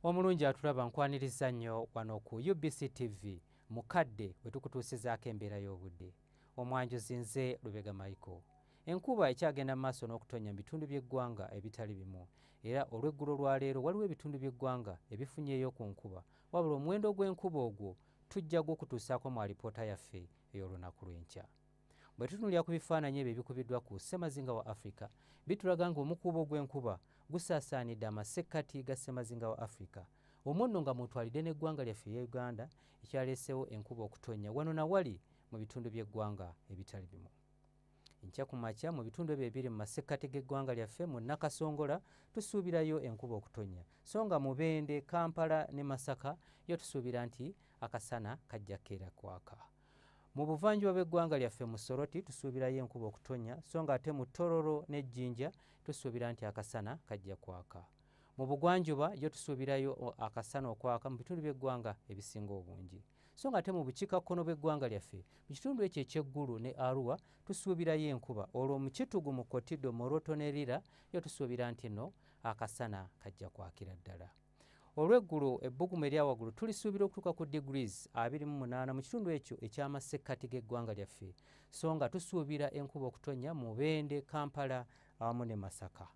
omulungi atulaba nkwaniriza nnyo wano ku ubc tv mukadde bwe tukutuusizaako embeera y'obudde omwanjuzi nze lubega michael enkuba ekyagenda mu maaso n'okutonnya mu bitundu by'eggwanga ebitali bimu era olw'eggulo lwaleero waliwo ebitundu by'eggwanga ebifunyeeyo ku nkuba wabula omuwendo ogw'enkuba ogwo tujja gwokutuusaako mu alipoota yaffe ey'olunaku lw'enkya bwe tutunulira ku bifaananyi ebyo ebikubiddwa ku ssemazinga wa afirika bitulaga nga omukuubo gw'enkuba gusaasaanidde amasekkati ga ssemazinga wa afirika omwo nno nga mutwalidde n'eggwanga lyaffe eya uganda ekyaleesewo enkuba okutonnya wano na wali mu bitundu by'eggwanga ebitali bimu enkya ku makya mu bitundu ebyo ebiri mu masekkati g'eggwanga lyaffe mu nakasongola tusuubirayo enkuba okutonnya so nga mubende kampala ne masaka yo tusuubira nti akasana kajja keera kwaka Mu buvanjuba bw'eggwanga lyaffe mu Soroti tusuubirayo enkuba okutonnya so ng'ate mu Tororo ne Jinja tusuubira nti akasana kajja kwaka. Mu bugwanjuba yo tusuubirayo akasana okwaka mu bitundu by'eggwanga ebisinga obungi. So ng'ate mu bukiikakkono bw'eggwanga lyaffe mu kitundu ekyo eky'eggulu ne Arua tusuubirayo enkuba olwo mu kitugu mu Kotido, Moroto ne Lira yo tusuubira nti no akasana kajja kwakira ddala. olw'eggulo ebbugumu eryawaggulu tulisuubira okutuuka ku degrees 28 mu kitundu ekyo eky'amasekkati g'eggwanga lyaffe so nga tusuubira enkuba okutonnya mu bende kampala awamu ne masaka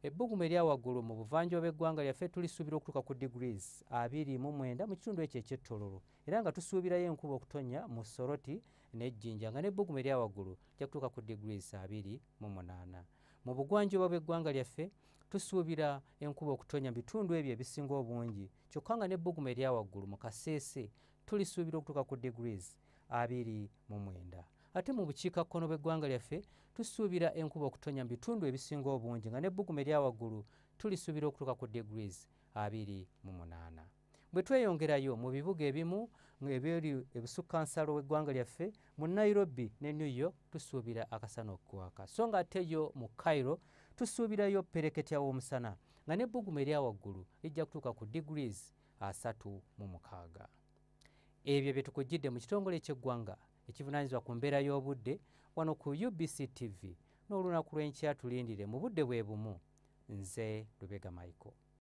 ebbugumu eryawaggulu mu buvanjuba bw'eggwanga lyaffe tulisuubira okutuuka ku degrees 29 mu kitundu ekyo eky'ettololo era nga tusuubirayo enkuba okutonnya mu soroti n'ejjinja nga n'ebbugumu eryawaggulu lyakutuuka ku degrees 28 mu bugwanjuba bw'eggwanga lyaffe tusuubira enkuba okutonya mu bitundu ebyo ebisinga obungi kyokka nga n'ebbugumu erya waggulu mu kaseese tulisuubira okutuuka ku degrees abiri mu mwenda ate mu bukiikakkono bw'eggwanga lyaffe tusuubira enkuba okutonya mu bitundu ebisinga obungi nga n'ebbugumu erya waggulu tulisuubira okutuuka ku degrees abiri mu munaana bwe tweyongerayo mu bibuga ebimu ebyeri ebusukka nsalo w'eggwanga lyaffe mu nairobi ne new york tusuubira akasana okukwaka so nga ate yo mu cairo tusuubirayo pereketya w'omusana nga n'ebbugumu erya waggulu lijja kutuuka ku degrees asatu mu mukaaga ebyo bye tukujjidde mu kitongole eky'eggwanga ekivunaanyizibwa ku mbeera y'obudde wano ku ubc tv n'olunaku lw'enkya tulindire mu budde bwe bumu nze lubega michael